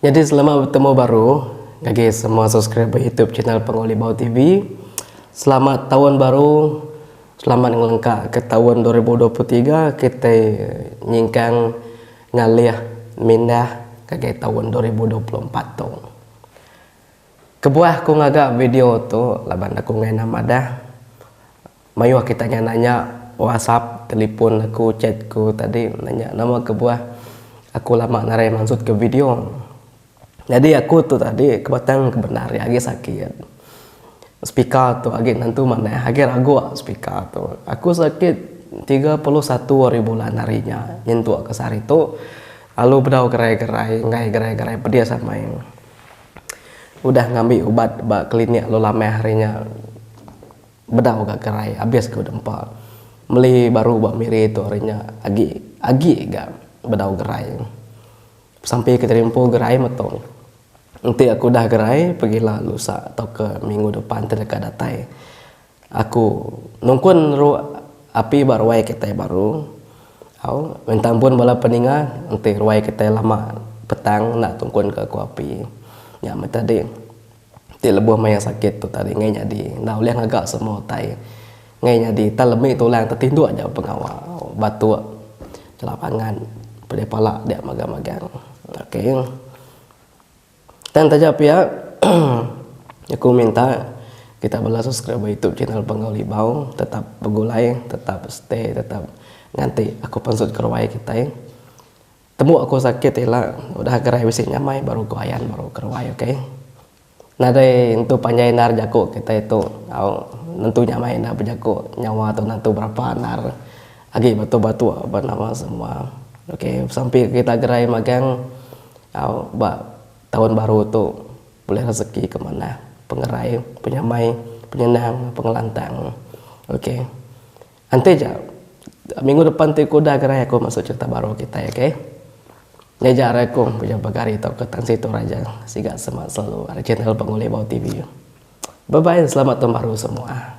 Nyadi selamat betemu baru ngagai semua subscriber YouTube channel Penguli Bau TV. Selamat taun baru. Selamat ngelengka ke taun 2023 kitai nyingkang ngalih mindah ngagai taun 2024 tu. Kebuah aku ngaga video tu laban aku ngena madah. Mayuh ke tanya nanya whatsapp telefon aku chat ku tadi nanya nama kebuah aku lama narai mansut ke video nyadi aku tu tadi ke batang ke bendar iya agi sakit speaker tu agi nentu manah agi ragok speaker tu aku sakit tiga puluh satu ari bulan ari nya nyentuk ke sehari tu lalu bedau gerai gerai enggai gerai gerai pedis amai udah ngambi ubat ba klinik lalu lamah ari nya. Bedau ga gerai abis ku dempa. Meli baru ba Miri tu ari nya agi agi ga bedau gerai. Sampi ke Jerimpu gerai meto. Enti aku udah gerai pegila lusa tauka minggu depan ti deka datai. Aku nungkun ru api ba ruai kitai baru. Au minta ampun bala peninga enti ruai kitai lama petang enda tungkun ka aku api. Nya meh tadi. ti lebuh maya sakit tu tadi ngai nyadi enda ulih ngaga semua utai ngai nyadi tang lemi tu lang tetinduk ja pengawa batuk kena pangan pedih pala dia magang-magang ok tang taja pia aku minta kita bala subscriber youtube channel Bangau Libau tetap begulai tetap stay tetap nganti aku pansut keruai kitai. Tembu aku sakit ti ila udah gerai bisi nyamai baru ku ayan baru ke ruai ok. Nadai entu panjai endar jaku kitai tu au nentu nyamai enda bejaku nyawa tu nentu berapa endar agi batuk batuk ba nama semua ok sampi kita gerai magang au ba taun baru tu bulih rezeki ke manah pengerai penyamai penyenang pengelantang ok. Enti ja, minggu depan ti ku udah ga rae aku masuk cerita baru kitai ok. Nya ja rae aku pejam pagar hari tauka tan situ raja. Siga semak selalu ari channel Bang Ulih Bau TV. Bye bye selamat taun baru semua.